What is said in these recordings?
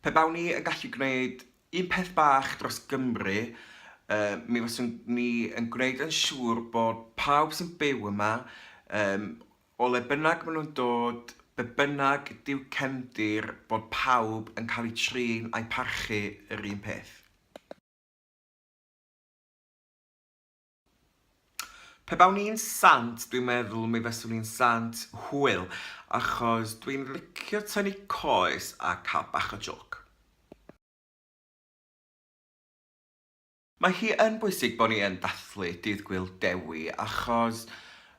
Pe bawn i yn gallu gwneud un peth bach dros Gymru, mi faswn ni yn gwneud yn siŵr bod pawb sy'n byw yma, o le bynnag maen nhw'n dod, be bynnag ydy'w cefndir, bod pawb yn cael eu trin a'u parchu yr un peth. Pe bawn i'n sant, dwi'n meddwl mi faswn i'n sant hwyl, achos dwi'n licio tynnu coes a cael bach o jôc. Mae hi yn bwysig bo' ni yn dathlu Dydd Gŵyl Dewi, achos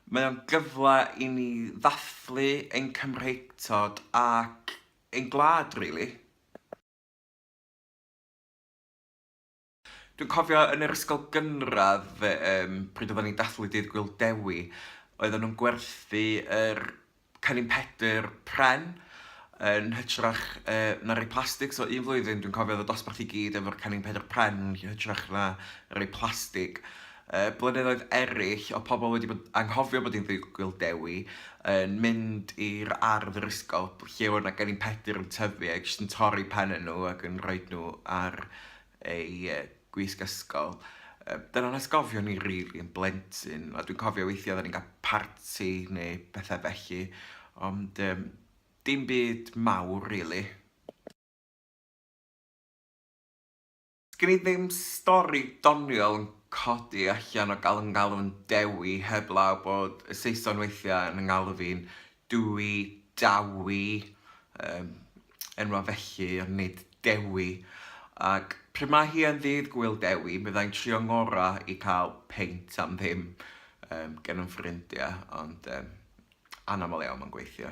mae o'n gyfle i ni ddathlu ein Cymreictod ac ein gwlad, rili. Dwi'n cofio yn yr ysgol gynradd yym pryd oeddan ni'n dathlu Dydd Gŵyl Dewi, oeddan nhw'n gwerthu yr Cennin Pedr pren yn hytrach yy na rei plastig, so un flwyddyn dwi'n cofio oedd y dosbarth i gyd efo'r Cennin Pedr pren yn hytrach na rei plastig. Yy blynyddoedd eraill oedd pobl wedi bod anghofio bod hi'n Ddydd Gŵyl Dewi yn mynd i'r ardd yr ysgol lle oedd 'na Gennin Pedr yn tyfu a jyst yn torri pennau nhw ac yn rhoid nhw ar ei gwisg ysgol. Dyna'n atgofion ni rili yn blentyn, a dwi'n cofio weithiau oedden ni'n cael parti neu pethau felly, ond um, dim byd mawr rili. Sgen i ddim stori doniol yn codi allan o galon galon Dewi heb law bod y Saeson weithiau yn 'y ngalw fi'n Dwy, Dawi, yym, enwa felly, ond nid Dewi. Ac pryd mae hi yn ddydd Gŵyl Dewi, mi fydda i'n trio 'ngora i cael peint am ddim, yym, gen 'y ffrindia, ond, yym, anaml iawn mae'n gweithio.